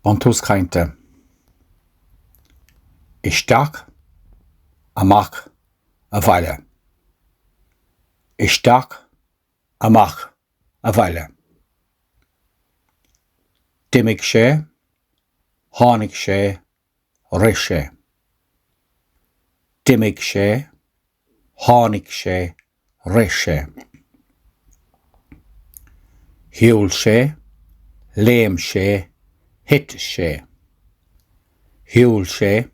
Buntús cainte Isteach, amach, abhaile. Isteach, amach, abhaile. D'imigh sé, tháinig sé, rith sé. D'imigh sé. Tháinig sé, rith sé. Shiúil sé, léim sé, thit sé. Shiúil sé,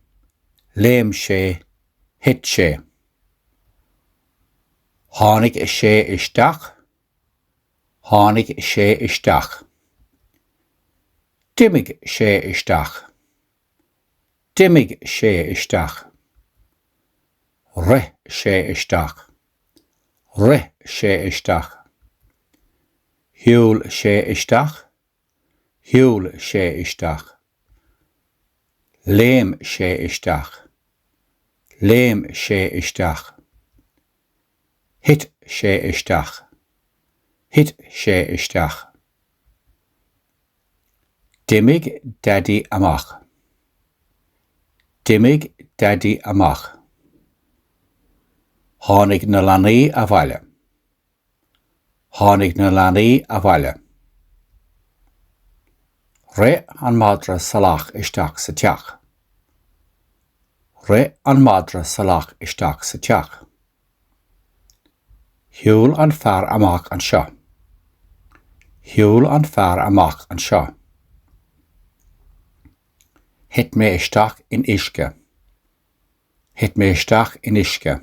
léim sé, thit sé. Tháinig sé isteach, tháinig sé isteach. D'imigh sé isteach, D'imigh sé isteach. Rith sé isteach. Rith sé isteach. Shiúil sé isteach. Shiúil sé isteach. Léim sé isteach. Léim sé isteach. Thit sé isteach. Thit sé isteach. D'imigh Daidí amach. D'imigh Daidí amach. Tháinig na leanaí abhaile. Tháinig na leanaí abhaile. Rith an madra salach isteach sa teach. Rith an madra salach isteach sa teach. Shiúil an fear amach anseo. Shiúil an fear amach anseo. Thit mé isteach in uisce. Thit mé isteach in uisce.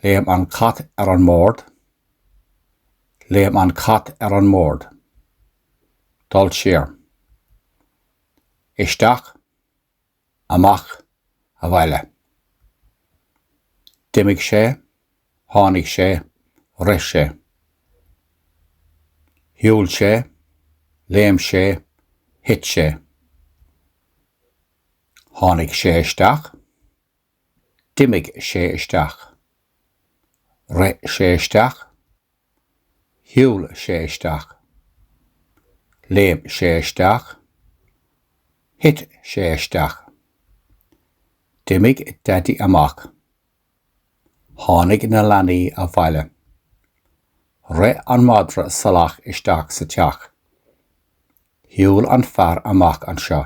Léim an cat ar an mbord. Léim an cat ar an mbord. Dul siar. Isteach. amach abhaile. D'imigh sé, tháinig sé, rith sé. Shiúil sé, léim sé, thit sé. Tháinig sé isteach, d'imigh sé isteach, rith sé isteach. Shiúil sé isteach. Léim sé isteach. Thit sé isteach. D'imigh Daidí amach. Tháinig na leanaí abhaile. Rith an madra salach isteach sa teach. Shiúil an fear amach anseo.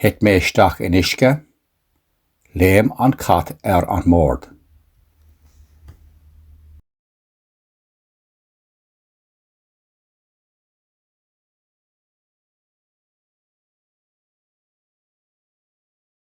Thit mé isteach in uisce. Léim an cat ar an mbord.